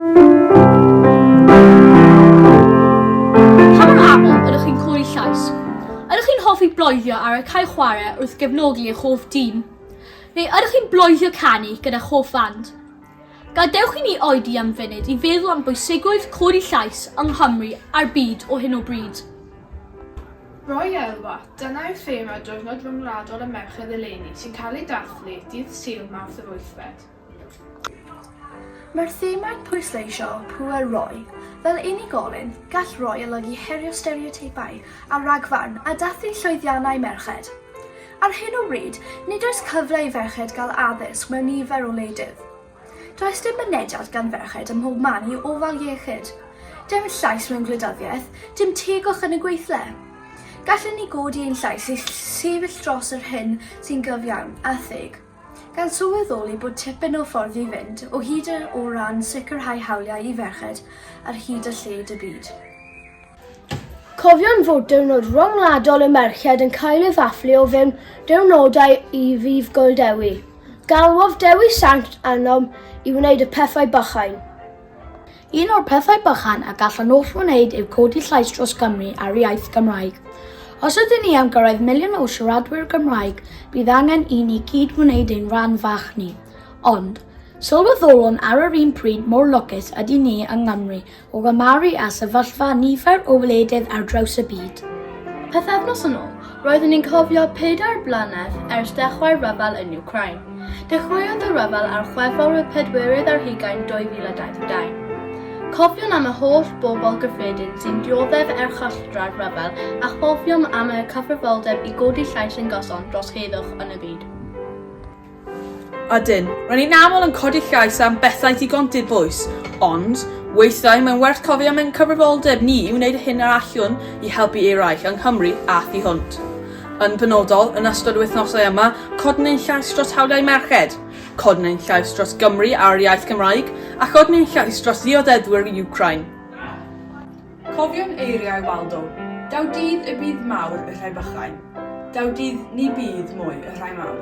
Pa mor aml ydych chi'n cloi llais? Ydych chi'n hoffi bloeddio ar y cae chwarae wrth gefnogi eich hoff dîm? Neu ydych chi'n bloeddio canu gyda hoff fand? Gadewch i ni oedi am funud i feddwl am bwysigrwydd clodi llais yng Nghymru a'r byd o hyn o bryd. Roy Elwa, dyna yw thema Diwrnod Ryngwladol y Merched eleni sy'n cael ei dathlu dydd Sul, Mawrth yr wythfed. Mae'r themau'n pwysleisio pŵer roi. Fel unigolyn, gall roi olygu herio stereoteipau a rhagfarn a dathlu llwyddiannau merched. Ar hyn o bryd, nid oes cyfle i ferched gael addysg mewn nifer o wledydd. Does dim mynediad gan ferched ym mhob man i ofal iechyd. Dim llais mewn gwleidyddiaeth, dim tegwch yn y gweithle. Gallwn ni godi ein llais i sefyll dros yr hyn sy'n gyfiawn a theg. Gan sylweddoli bod tipyn o ffordd i fynd o hyd o ran sicrhau hawliau i ferched ar hyd a lled y byd. Cofion fod diwrnod ryngwladol y merched yn cael ei ddathlu o fewn diwrnodau i Ddydd Gŵyl Dewi. Galwodd Dewi Sant arnom i wneud y pethau bychain. Un o'r pethau bychan y gall y nôll wneud yw codi llais dros Gymru a'r iaith Gymraeg. Os ydyn ni am gyrraedd miliwn o siaradwyr Gymraeg, bydd angen i ni gyd wneud ein rhan fach ni. Ond, sylweddolwn ar yr un pryd mor lwcus ydyn ni yng Nghymru o gymharu â sefyllfa nifer o wledydd ar draws y byd. Pythefnos yn ôl, Roeddwn i'n cofio pedair blynedd ers dechrau'r rhyfel yn Wcráin. Dechreuodd y rhyfel ar Chwefror y pedwerydd ar hugain 2022. Cofiwn am y holl bobl gyffredin sy'n dioddef erchylltra'r rhyfel a chofiom am eu cyfrifoldeb i godi llais yn gyson dros heddwch yn y byd. Ydyn, rydyn ni'n aml yn codi llais am bethau digon dibwys, ond weithiau mae'n werth cofio am ein cyfrifoldeb ni i wneud hyn yr allwn i helpu eraill yng Nghymru a thu hwnt. Yn benodol, yn ystod y wythnosau yma, codwn ein llais dros hawliau merched, codwn ein llais dros Gymru a'r iaith Gymraeg, a chodwn ein llais dros ddiodeddwyr Ukraine. Cofiwn eiriau Waldo, Daw dydd y bydd mawr y rhai bychain, daw dydd ni bydd mwy y rhai mawr.